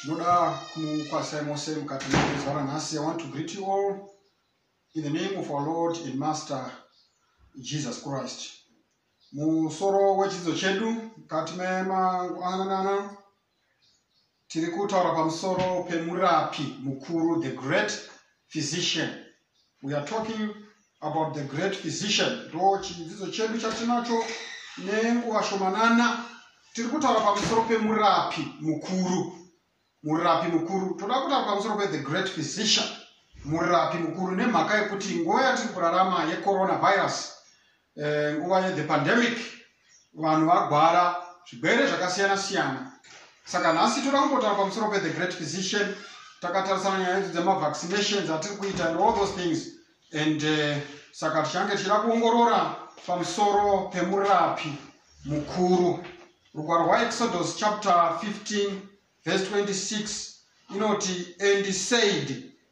tinoda kukwasai mose mukati mezuva ranhasi i want to greet you all in the name of our lord and master jesus christ musoro wechidzidzo chedu mukati memangwanana tiri kutaura pamusoro pemurapi mukuru the great physician we are talking about the great physician ndo chidzidzo chedu chatinacho nenguva shomanana tiri kutaura pamusoro pemurapi mukuru murapi mukuru toda kutaura pamusoro pethe great physician murapi mukuru nemhaka yekuti nguva yatiri kurarama yecoronavirus Eh, nguva yethe pandemic vanhu vagwara zvigwere zvakasiyana siyana saka nhasi toda kumbotaura pamusoro pethe great physician takatarisana nyaya yedu dzemavaccinations atiri kuita and all those things and uh, saka tichange tichida kuongorora pamusoro pemurapi mukuru rugwaro rwaexodus chapter 15 verse 26 inoti and said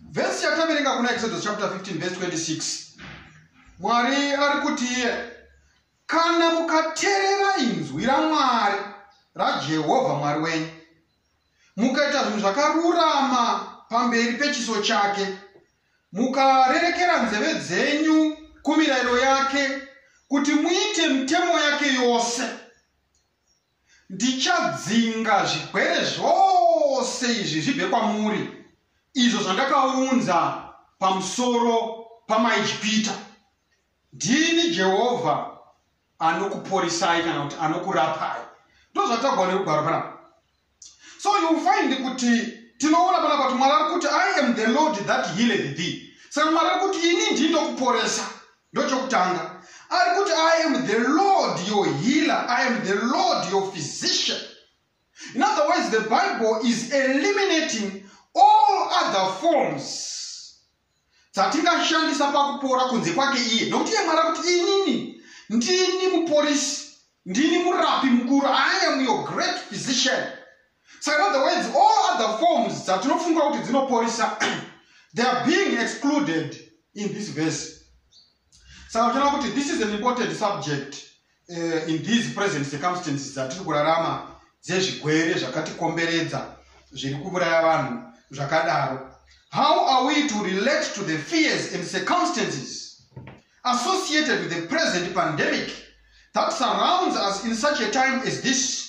vhesi yataverenga kuna exodus chapter 15 vhesi 26 mwari ari kuti iye kana mukaterera inzwi ramwari rajehovha mwari wenyu mukaita zvinhu zvakarurama pamberi pechiso chake mukarerekera nzeve dzenyu kumirayiro yake kuti muite mitemo yake yose Ndichadzinga zvigwere zvose izvi zvibve kwamuri, izvo zvandakaunza pamusoro pamaIjipita. Ndini Jehovha anokuporisai kana kuti anokurapai. Ndozvatagwa nekugwaro panapa. So you find kuti tinoona panapa kuti Mwari ari kuti I am the Lord that healeth thee. Saka Mwari ari kuti ini ndini ndokuporesa. ndochokutanga ari kuti i am the lord your healer i am the lord your physician in other words the bible is eliminating all other forms dzatingashandisa pakupora kunze kwake iye nokuti iye mwari akuti inini ndini muporisi ndini murapi mukuru i am your great physician So in other words, all other forms dzatinofunga kuti dzinoporisa they are being excluded in this verse. Saka tinoona kuti this is an important subject uh, in these present circumstances dzatiri kurarama dzezvigwere zvakatikomberedza zviri kuuraya vanhu zvakadaro. How are we to relate to the fears and circumstances associated with the present pandemic that surrounds us in such a time as this?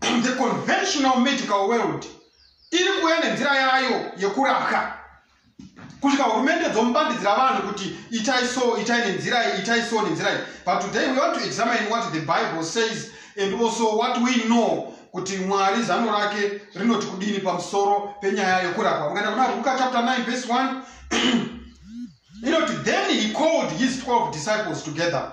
and the conventional medical world iri kuuya nenzira yayo yekurapwa kusvika hurumende dzomubandidzira vanhu kuti itai so itai nenzira iyi itai so nenzira iyi but today we want to examine what the bible says and also what we know kuti mwari zano rake rinoti kudini pamusoro penyaya yekurapwa ukaenda kuna ruka chapter 9 verse 1 inoti then he called his 12 disciples together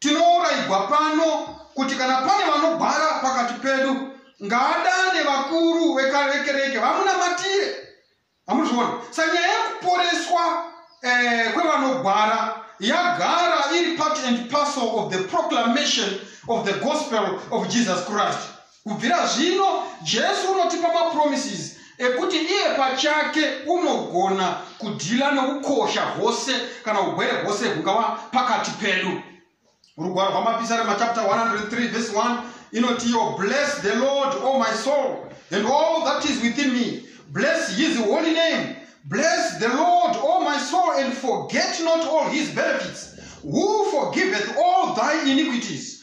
Tinouraigwa pano kuti kana pane vanogwara pakati pedu ngaadane vakuru vekarekereke vamunamatire amuzviona sanyaya yekuporeswa eh, kwevanogwara yagara iri part and parcel of the proclamation of the gospel of jesus christ Kubvira zvino, Jesu unotipa mapromises ekuti iye pachake unogona kudhila nokukosha hose kana ugwere hose hungava pakati pedu. Rugwaro rwamapisari machapter 103 vese 1 inoti yo bless the lord o my soul and all that is within me bless his holy name bless the lord o my soul and forget not all his benefits who forgiveth all thy iniquities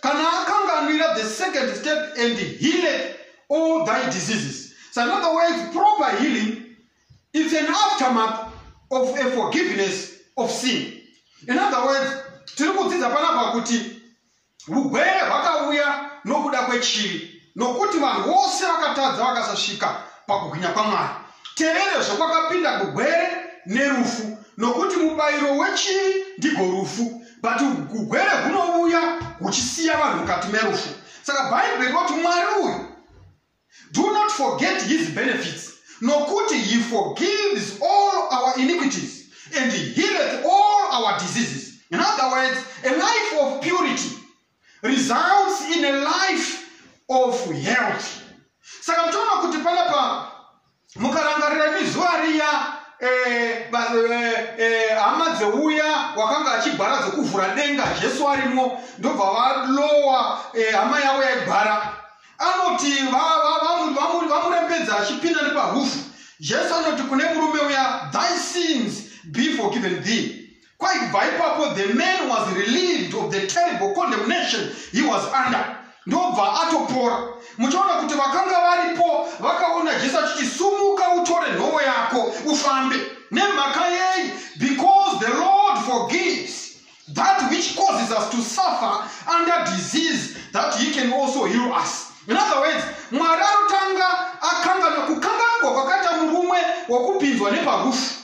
kana akanganwira the second step and healed all thy diseases so in other words proper healing is an aftermath of a forgiveness of sin in other words tiri kudzidza panapa kuti ugwere hwakauya nokuda kwechivi nokuti vanhu vose vakatadza vakasasvika pakugwinya kwamwari terere zvokwakapinda kugwere nerufu nokuti mubayiro wechivi ndigo rufu but ugwere hunouya huchisiya vanhu mukati merufu saka bhaibheri roti mwari uyu do not forget his benefits nokuti he forgives all our iniquities and healeth all our diseases in other words a life of purity results in a life of health saka mutoona kuti panapa mukarangarira imi zuva riya eh, eh, eh, hama dzeuya wakanga achigwara dzokuvhura denga jesu arimo ndobva valowa hama yavo yaigwara anoti vamurembedza achipinda neparufu jesu anoti kune murume uya thy sins be forgiven thee kwaibva ipapo the man was relieved of the terrible condemnation he was under ndobva atopora muchaona kuti vakanga varipo vakaona jesu achiti sumuka utore nhovo yako ufambe nemhaka yei because the lord forgives that which causes us to suffer under disease that he can also heal us in other words mwari anotanga akangana kukanganugwa kwakaita murume wokupinzwa neparufu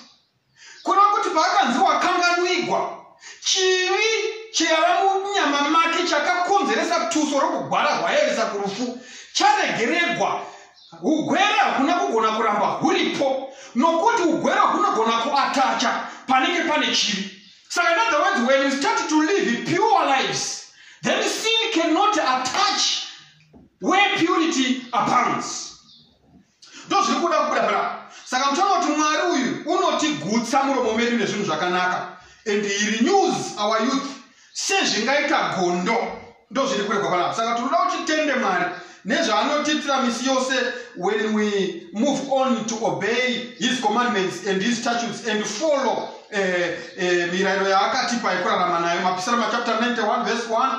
kureva kuti paakanzi wakanganwigwa chivi chaiva munyama make chakakonzeresa tuso rokugwara rwayevesa kurufu charegeregwa ugwere hakuna kugona kuramba huripo nokuti ugwere hunogona kuatacha panenge pane chivi saka in other words when you start to live pure lives then sin cannot attach where purity abounds ndozviri kuda kubuda bra saka mutoona kuti mwari uyu unotigutsa muromo medu nezvinhu zvakanaka and he renews our youth sezvingaita gondo ndozviri kuregwa panapa saka tinoda kuti tende mwari nezvaanotiitira misi yose when we move on to obey his commandments and his statutes and follow eh, eh, mirayiro yaakatipa yekurarama nayo mapisira machapter 91 verse 1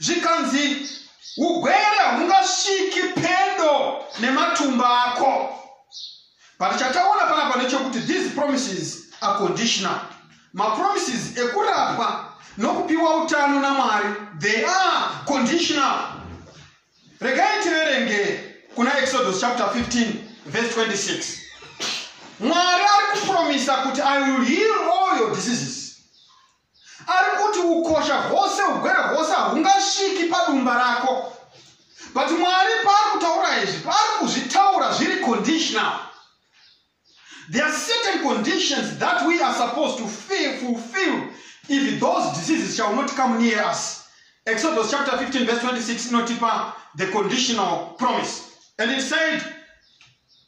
zvikanzi ugwere hungasviki pedo nematumba ako but chataona panapa nechokuti these promises are conditional mapromises ekurapwa nokupiwa utano namwari they are conditional regai tiverenge kuna exodus chapter 15 verse 26 mwari ari kupromisa kuti i will heal all your diseases ari kuti ukosha hwose ugwere hwose hahungasviki padumba rako but mwari paari kutaura izvi paari kuzvitaura zviri conditional there are certain conditions that we are supposed to feel, fulfill if those diseases shall not come near us exodus chapter 15 verse 26 inotipa the conditional promise and it said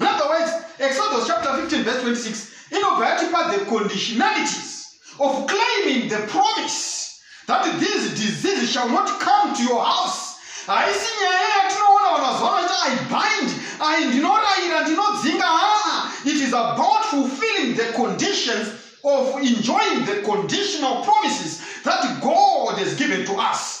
In other words, Exodus chapter 15 verse 26 inobva yatipa the conditionalities of claiming the promise that these diseases shall not come to your house haisi nyaya yatinoona vanhu vaziva vanoita i bind i ndinorayira ndinodzinga haa it is about fulfilling the conditions of enjoying the conditional promises that god has given to us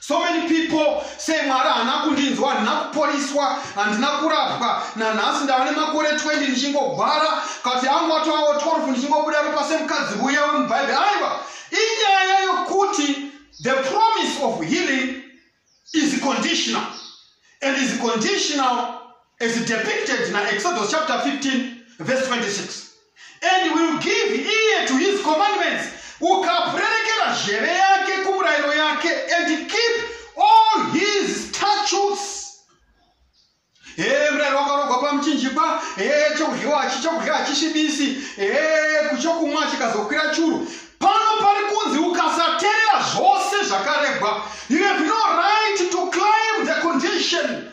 so many people say mwari haana kundinzwa handina kuporiswa handina kurapwa nanhasi ndava nemakore 20 ndichingogwara kati angu atoawo 12 ndichingobuda ropa semukadzi uya wemubhaibheri aiwa inyaya yokuti the promise of healing is conditional and is conditional as depicted na exodus chapter 15 verse 26 and will give ear to his commandments ukapurerekera zheve yake kumurayiro yake and keep all his statutes ee murayiro wakarogwa pamuchinjikwa ee chokudyiwa achi chokudya hachishibisi ee kuchokumwa chikazokwira churu pano pari kunzi ukasaterera zvose zvakaregwa you have no right to climb the condition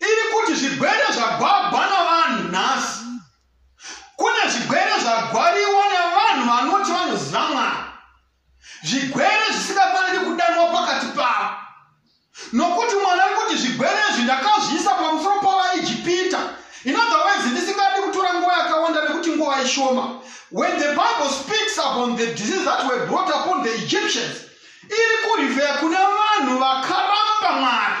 iri kuti zvigwere zvagwagwa navanhu nhasi kune zvigwere zvagwariwa nevanhu vanoti vanoziva mwana zvigwere zvisingafaniri kudanwa pakati pavo nokuti mwana ari kuti zvigwere izvi ndakazviisa pamusoro pavaijipita inodhawezi ndisingadi kutora nguva yakawanda nekuti nguva ishoma when the bible speaks upon the disease that were brought upon the egyptians iri kurivheya kune vanhu vakaramba mwari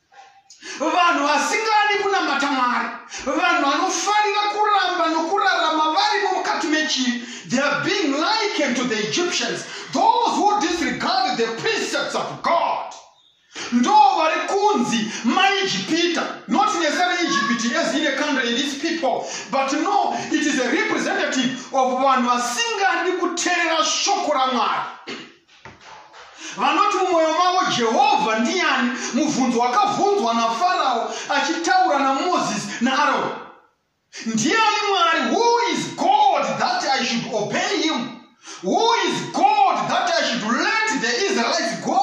vanhu vasingadi kunamata mwari vanhu vanofarira kuramba nokurarama varimo mukati mechivi they are being likened to the egyptians those who disregard the precepts of god ndo vari kunzi maijipita not necessarily egypt as in a country in these people but no it is a representative of vanhu vasingadi kuterera shoko ramwari vanoti mumwoyo mavo jehovha ndiani mubvunzo wakabvunzwa nafarao achitaura namozisi naaroni ndiani mwari who is god that i should obey him who is god that i should let the israelites go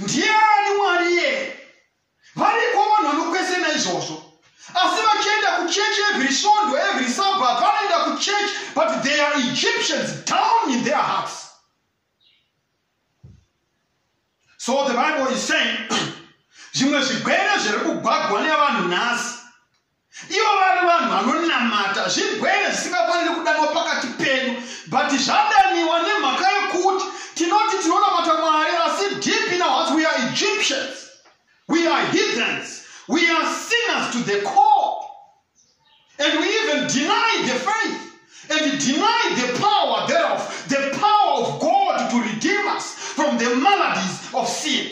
ndiani mwari iye Variko vanhu vanokwesena izvozvo asi vachienda kuchechi every svondo every sabbath vanoenda kuchechi but they are egyptians down in their hearts so the bible is saying zvimwe zvigwere zviri kugwagwa nevanhu nhasi ivo vari vanhu vanonamata zvigwere zvisingafaniri kudanwa pakati pedu but zvadaniwa nemhaka yekuti tinoti tinonamata mwari asi deep in our hearts we are egyptians we are heathens we are sinners to the core and we even deny the faith and deny the power thereof the power of god to redeem us from the maladies of sin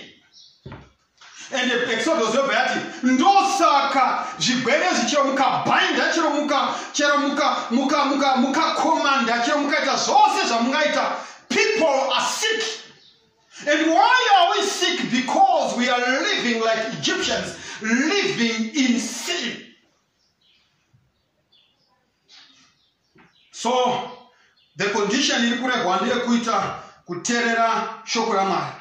and exodus yobva yati ndosaka zvigwere zvichero mukabhainda chero muka chero muka muka muka mukakomanda chero mukaita zvose zvamungaita people are sick and why are we sick because we are living like egyptians living in sin so the condition iri kuregwa ndeyekuita kuterera shoko ramwari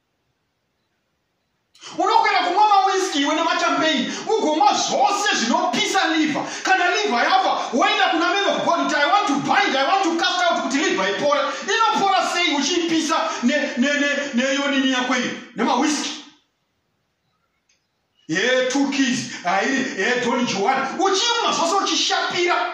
unokwera kumwa mawiski iwe nemachampagne ugomwa zvose zvinopisa liver kana liver yafa woenda kuna man of god kuti i want to bind i want to cast out kuti liver ipore inopora sei uchiipisa neyonini yako iyi nemawiski he two keys hairi he doni joan uchimwa zvose uchishapira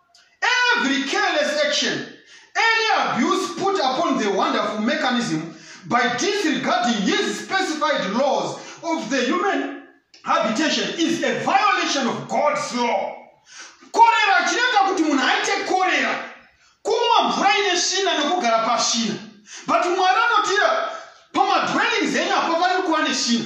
Every careless action, any abuse put upon the wonderful mechanism by disregarding his specified laws of the human habitation is a violation of God's law. Korera chinoita kuti munhu aite korera, kumwa mvura ine svina nekugara pasvina. But Mwari anotira pamadwellings enyu apo pari kuva nesvina.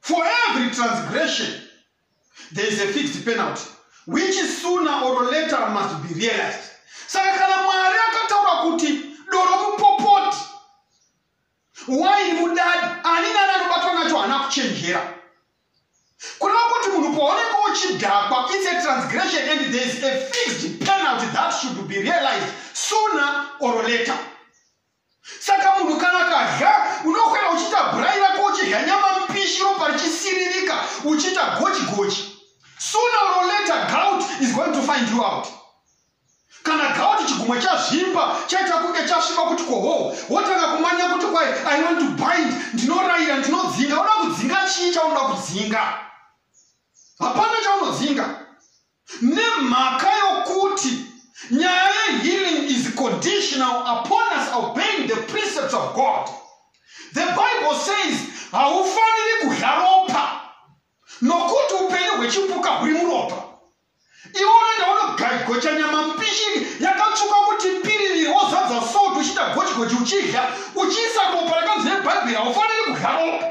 For every transgression, there is a fixed penalty, which sooner or later must be realized. Saka kana Mwari akataura kuti doro mupopoti, waini mudadi, ani nani anobatwa nacho haana kuchenjera. Kureva kuti munhu paunenge uchidhakwa, it's a transgression and there is a fixed penalty that should be realized sooner or later. Saka munhu kana kadya unokwera uchiita bhurai rako uchidya nyama mpishi ropa richisiririka uchiita gochi gochi. Sooner or later gout is going to find you out. Kana gout chigumwe chazvimba chaita kunge chasviba kuti kohoo wotanga kumanya kuti kwai I want to bind ndinorayira ndinodzinga unoda kudzinga chii chaunoda kudzinga. Hapana chaunodzinga. nemhaka yokuti nyaya yehealing is conditional upon us obeying the precepts of god the bible says haufaniri kudya ropa nokuti upenyu hwechipuka huri muropa iwe unoenda unogocha nyama mupishini yakatsvuka kuti piririri wozadza salt uchiita gochigochi uchidya uchiisa ropa rakanzi nebhaibheri haufaniri kudya ropa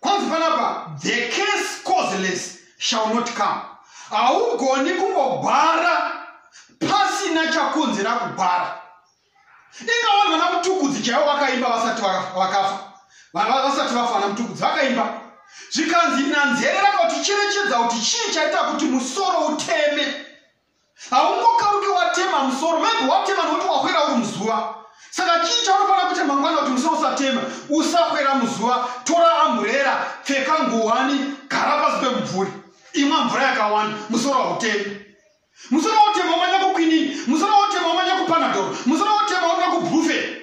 kwanzi panapa the case causeless shall not come haugoni kungogwara pasina chakonzera kugwara inga vanhu vana mutukudzi chaivo vakaimba vasati vakafa vasati vafa vana mutukudzi vakaimba zvikanzi nanzerera kuti cherechedza kuti chii chaita kuti musoro uteme haungokauke watema musoro maybe watema nokuti wahwera uri muzuva saka chii chaunofanira kuita mangwana kuti musoro usatema usahwera muzuva tora amburera pfeka nguwani gara pasi pemubvuri imwa mvura yakawanda musoro hautemi musoro wautema umanya kukwinini musoro wautema umanya kupanadoro musoro wautema umanya kubrufe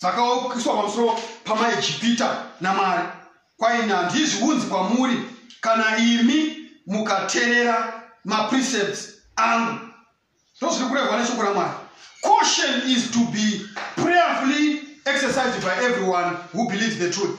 dzakaukiswa pamusoro pamaejipita namwari kwaini handizvi unzi kwamuri kana imi mukaterera maprecepts angu ndozviri kurehwa neshoko ramwari caution is to be prayerfully exercised by everyone who believes the truth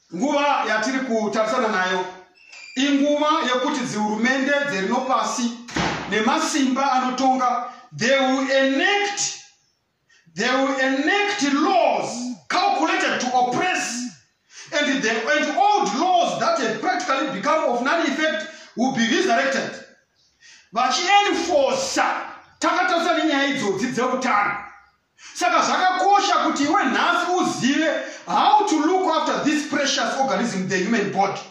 Nguva yatiri kutarisana nayo inguva yekuti dzihurumende dzerino pasi nemasimba anotonga they will enact they will enact laws calculated to oppress and the and old laws that have practically become of non effect will be resurrected vachienforca takatarisana nenyaya idzodzi dzeutano Saka zvakakosha kuti iwe nhasi uzive how to look after this precious organism, the human body,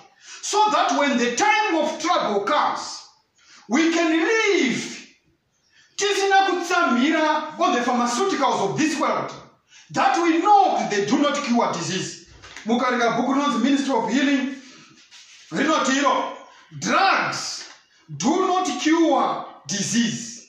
so that when the time of trouble comes, we can live tisina kutsamhira on the pharmaceuticals of this world that we know that they do not cure disease. Mukarika bhuku rinonzi Ministry of Healing rinoti iro drugs do not cure disease.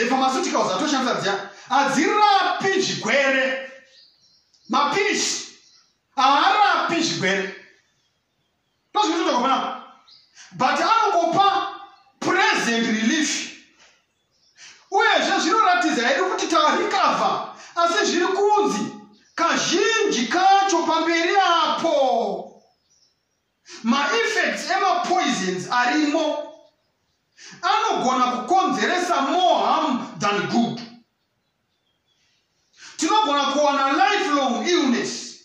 the pharmaceuticals atoshandisa dziya hadzirapi zvigwere mapirizi haarapi zvigwere ndozvinototakupana but anongopa present relief uyezve zvinoratidza hedu kuti tarecover asi zviri kunzi kazhinji kacho pamberi apo Maeffects emapoisons arimo anogona kukonzeresa more harm than good. Tinogona kuwana lifelong illness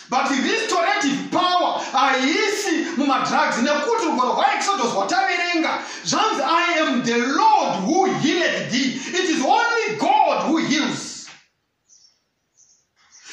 but restorative power haisi mumadrugs nekuti rugwaro rwaexodus rwataverenga zvanzi i am the lord who healeth thee it is only god who heals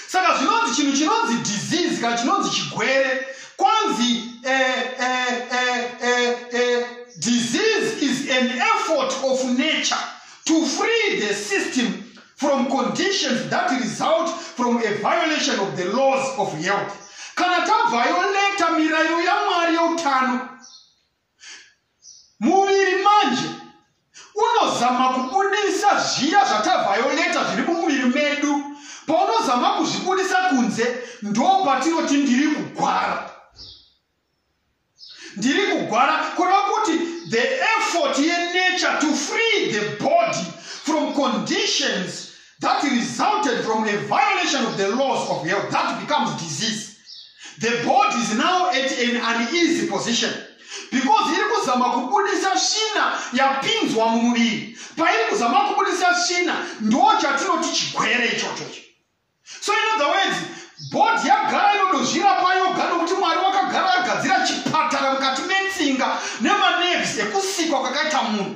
saka zvinonzi chinhu chinonzi disease kana chinonzi chigwere kwanzi eh, eh, eh, eh, eh, disease is an effort of nature to free the system from conditions that result from a violation of the laws of health kana tavhayoreta mirairo yamwari yeutano muviri manje unozama kubudisa zviya zvatavhayoleta zviri mumuviri medu paunozama kuzvibudisa kunze ndo patinoti ndiri kugwara ndiri kugwara kureva kuti the effort yenature to free the body from conditions that resulted from a violation of the laws of health that becomes disease the body is now at an uneasy position because iri kuzama kubudisa svina yapinzwa mumuviri pairi kuzama kubudisa svina ndo chatinoti chigwere ichochocho so in other words bhodhi yagara inodozvirapa yoga nokuti mwari wakagara agadzira chipatara mukati metsinga nemaneves ekusikwa kwakaita munhu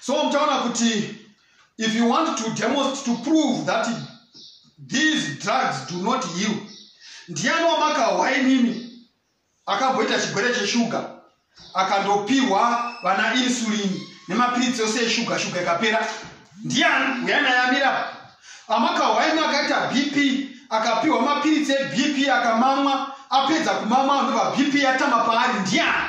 so mtaona kuti if you want to demonstrate to prove that these drugs do not heal ndiani wamakahwa inini akamboita chigwere cheshuga akandopihwa vana insulin nemapiritsi yose yeshuga shuga ikapera ndiani uyana yamira amakahwa ini akaita bp akapihwa mapiritsi ebp akamamwa apedza kumamwa anova bp yatama paari ndiani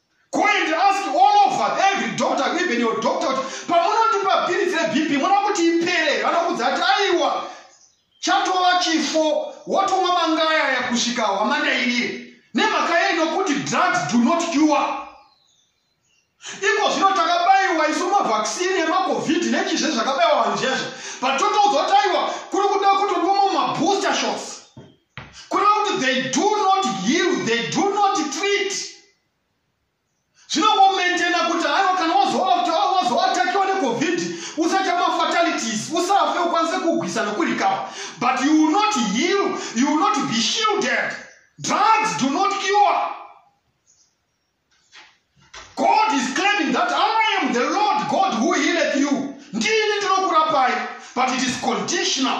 Go and ask all over every doctor, even your doctor, kuti pamunondipa piritsi reBP munoda kuti ipere, vanokudza kuti aiwa chatova chifo wotomwa mangaya aya kusvika hwamanda iriye nemhaka yei nokuti drugs do not cure iko zvino takabayiwa isu mavhaksini emacovid nechizve zvakabayiwa vanhu zvezvo but totoudzwa kuti aiwa kuri kuda kutonwa mumabooster shots kureva kuti they do not heal they do not treat zvinongomentena kuti aiwa kana wazoatakiwa necovid usaita mafatalities usafe ukwanise kugwisa nokurikava but you will not heal you will not be shielded drugs do not cure god is claiming that i am the lord god who healeth you ndini ndinokurapai but it is conditional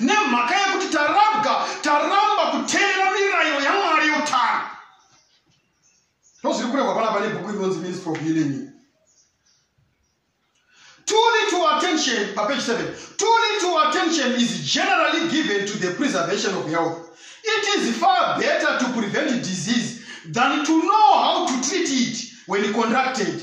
nemhaka yekuti tarabwa taramba kuteera mirayiro yamwari yeutano ndozviri kurehwa panapa nebhuku rinonzi ministry of healing too little attention papage 7 too little attention is generally given to the preservation of health it is far better to prevent disease than to know how to treat it when contracted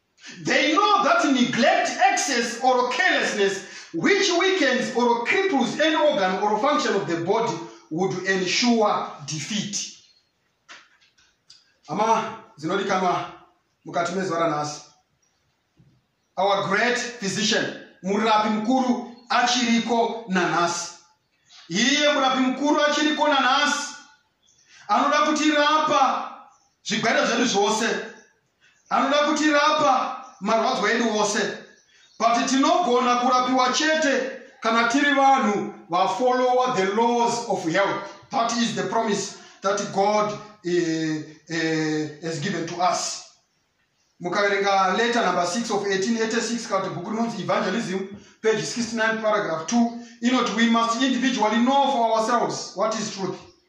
They know that neglect, excess, or carelessness, which weakens or cripples any organ or function of the body, would ensure defeat. Ama zinodikanwa mukati mezuva ranhasi. Our great physician, murapi mukuru achiriko nanhasi. Iye murapi mukuru achiriko nanhasi. Anoda kutirapa zvigwere zvedu zvose. Anoda kutirapa marwadzo edu ose. But tinogona kurapiwa chete kana tiri vanhu va follower the laws of health. That is the promise that God uh, uh, has given to us. Mukaverenga letter number 6 of 1886 kana kuti bhuku rinonzi Evangelism page 69 paragraph 2 inoti we must individually know for ourselves what is truth.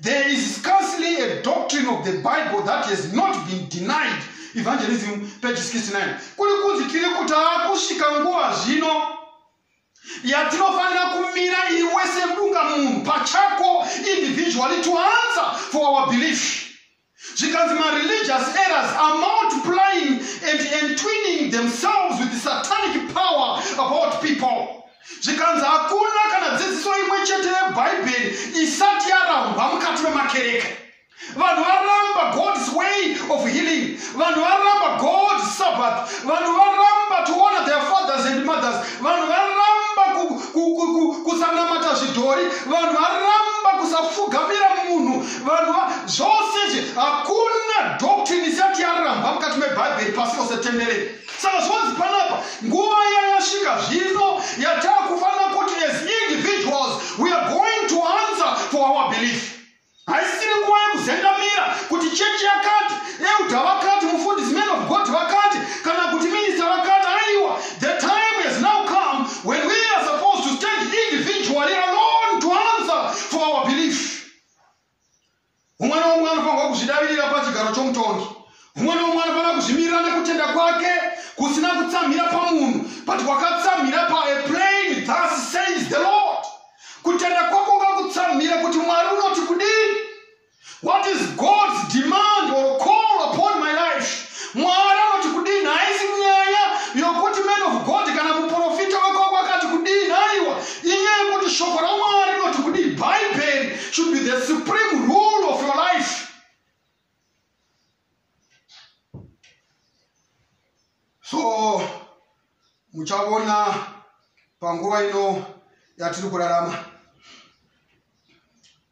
There is scarcely a doctrine of the Bible that has not been denied. Evangelism, page 69. Kuri kunzi tiri kuti akusvika nguva zvino yatinofanira kumira iwe semunga munhu pachako individually to answer for our belief. zvikanzi mareligious errors are multiplying and entwining themselves with satanic power about people zvikanzi hakuna kana dzidziso imwe chete yebhaibheri isati yarambwa mukati memakereke vanhu varamba god's way of healing vanhu varamba god's sabbath vanhu varamba to honor their fathers and mothers vanhu varamba kusanamata zvidhori vanhu varamba kusafugamira munhu vanhu va zvose izvi hakuna doctrine isati yaramba mukati mebhaibheri pasi rose tenderere saka zvonzi panapa nguva yayasvika zvino yatakufanira kuti as individuals we are going to answer for our belief haisiri nguva yekuzendamira kuti chechi yakati euda vakati mufundisi man of god vakati kana kuti minista vakati aiwa the time has now come when we are supposed to stand individually alone to answer for our belief umwe noumwe anofanirwa kuzvidavirira pachigaro chomutongi umwe noumwe anofanira kuzvimirira nekutenda kwake kusina kutsamhira pamunhu but kwakatsamhira paaplain thus says the lord kutenda kwako ngakutsamhira kuti mwari unoti kudii what is god's demand or call upon my life mwari anoti kudini haisi nyaya yokuti man of god kana muprofita wekoko akati kudini aiwa inyaya yekuti shoko ramwari rinoti kudii bhaibheri should be the supreme rule of your life so muchaona panguva ino yatiri kurarama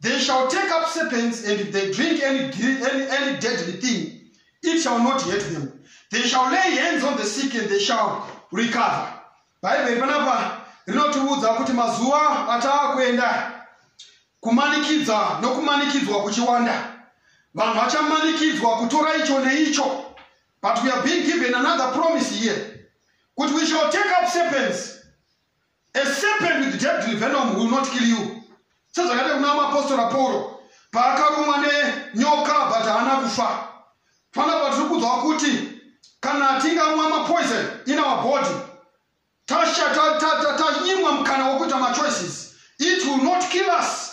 They shall take up serpents, and if they drink any, any, any deadly thing, it shall not hurt them. They shall lay hands on the sick, and they shall recover. Bhaibheri panapa rinotiudza kuti mazuva ataa kuenda kumanikidza nokumanikidzwa kuchiwanda vanhu vachamanikidzwa kutora icho neicho but we are being given another promise here kuti we shall take up serpents A serpent with deadly venom will not kill you. Sezvakati kuna mapostora Pauro paakarumwa nenyoka but haana kufa. Fana but kudzwa kuti kana tingamwa mapoison in our body tasha tanyimwa mukana wekuita machoices it will not kill us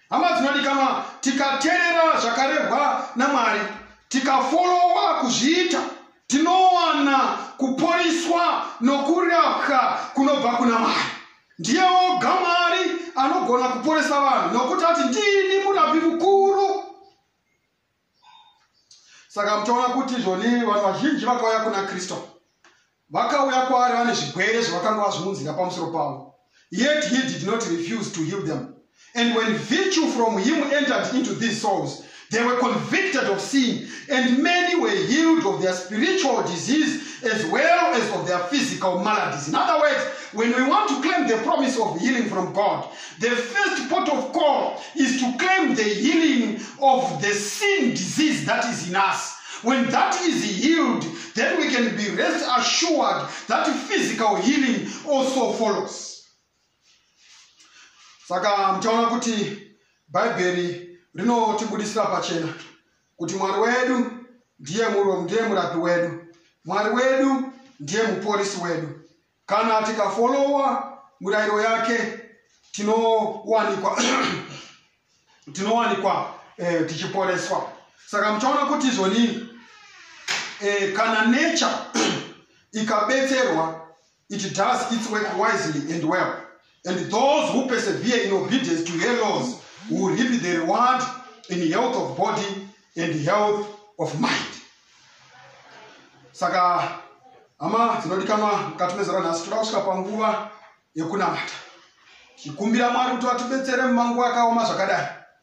Hama dzinodikama, tikaterera zvakarehwa naMwari, tikafolowa kuzviita, tinowana kuporiswa nokurapwa kunobva kuna Mwari. Ndiye oga Mwari anogona kuporesa vanhu nokuti ati ndini murapi mukuru. saka mutoona kuti izvoni vanhu vazhinji vakauya kuna kristu vakauya kwaari vane zvigwere zvavakanga vazviunzira pamusoro pavo yet he did not refuse to heal them and when virtue from him entered into these souls they were convicted of sin and many were healed of their spiritual disease as well as of their physical maladies in other words when we want to claim the promise of healing from god The first port of call is to claim the healing of the sin disease that is in us. When that is healed, then we can be rest assured that physical healing also follows. Saka mtaona kuti Bhaibheri rinotibudisira pachena kuti Mwari wedu ndiye murapi wedu, Mwari wedu ndiye muporisi wedu. Kana tikafollowa murayiro yake tinowanikwa tinowanikwa eh, tichiporeswa saka muchaona kuti izvonii eh, kana nature ikabetserwa it does its work wisely and well And those who persevere in obedience to her laws will reap the reward in health of body and health of mind. Saka hama dzinodikanwa mukati mezera nhasi toda kusvika panguva yekunamata tichikumbira mwari kuti vatibetsere mumanguva akaoma zvakadai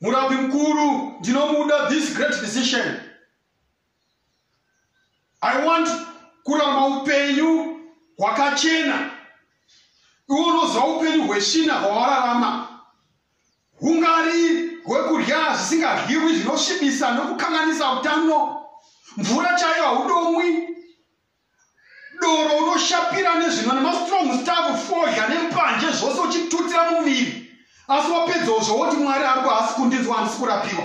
murapi mukuru ndinomuda this great physician i want kuramba upenyu hwakachena iwe unoziva upenyu hweshina hwawararama hungari hwekudya zvisingadyiwi zvinosvibisa nokukanganisa utano mvura chaiyo haudomwi doro unoshapira nezvinwa nemastrong stav fodya nempanje zvose uchitutira mumiri asi wapedzawo zvawoti mwari ariko haasi kundinzwa handisi kurapiwa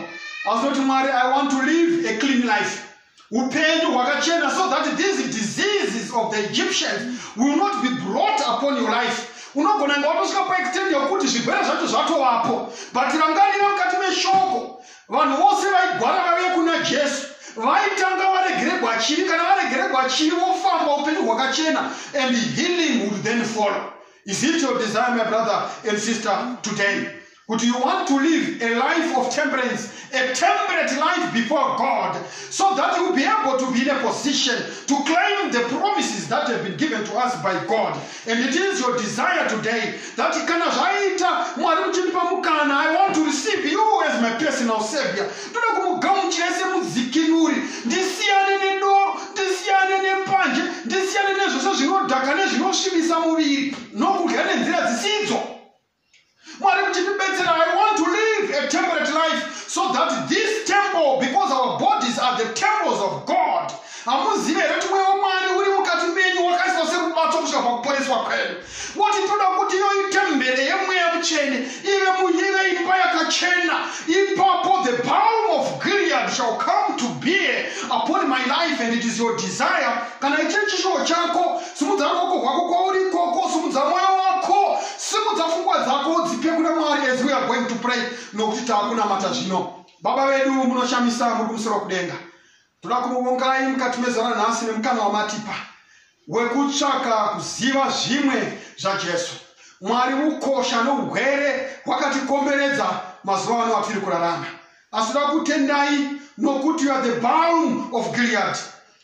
asi noti mwari i want to live a clean life upenyu hwakachena so that these diseases of the egyptians will not be brought upon your life unogona nga watosvika paextend yokuti zvirwere zvacho zvatovapo but rangarira mukati meshoko vanhu vose vaigwara vaive kuna jesu vaitanga varegeregwa chivi kana varegeregwa chivi vofamba upenyu hwakachena and healing would then follow is it your desire my brother and sister today kuti you want to live a life of temperance a temperate life before god so that you be able to be in a position to claim the promises that have been given to us by god And it is your desire today that kana zvaita mwari muchindipa mukana i want to receive you as my personal savior ndoda kumugamuchira semudzikinuri ndisiyane nedoro ndisiyane nembanje ndisiyane nezvose zvinodhaka nezvinosvibisa muviri nokudya nenzira dzisidzo Mwari muchitibetsera, I want to live a temperate life so that this temple, because our bodies are the temples of God, hamuzive here kuti mweya wamwari uri mukati menyu wakaiswa serubatso kusvika pakuporeswa kwedu woti toda kuti iyo itembere yemweya mutsvene ive muive imba yakachena ipapo the palm of gilead shall come to be upon my life and it is your desire kana ichiri chishuwo chako simudza ruoko rwako kwauri ikoko simudza mwoyo wako simudza fungwa dzako udzipe kuna mwari as we are going to pray nokuti taakunamata zvino baba vedu munoshamisa muri kumusoro kudenga toda kumuvongai mukati mezara nhasi nemukana wamatipa wekutsvaka kuziva zvimwe zvajesu mwari ukosha nougwere hwakatikomberedza mazuva ano atiri kurarama asi toda kutendai nokuti you are the balm of gilead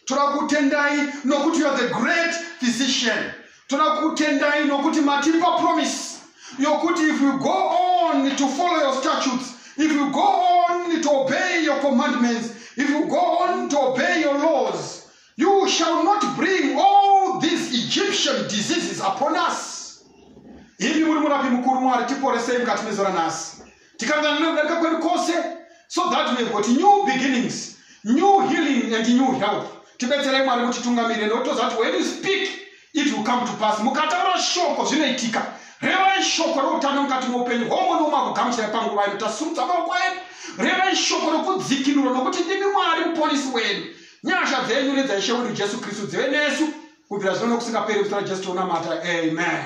Torakutendai nokuti you are the great physician. Torakutendai nokuti matipa promise yokuti if you go on to follow your statutes, if you go on to obey your commandments, if you go on to obey your laws, you shall not bring all these Egyptian diseases upon us. Imi muri murapi mukuru Mwari tiporesei mukati mezuva ranhasi. tikakanganwa nekudarika kwedu kwose so that we have got new beginnings new healing and new health tibetserei mwari kuti tungamirire nekuti toziva kuti when you speak it will come to pass mukataura shoko zvinoitika revai shoko reutano mukati moupenyu hwoumwe noumwe akugamuchira panguva ino tasumudza maoko edu revai shoko rokudzikinura nokuti ndimi mwari muponisi wedu nyasha dzenyu nedzaishe wedu jesu kristu dzive nesu kubvira zvino nokusingaperi kusara jesu tounamata amen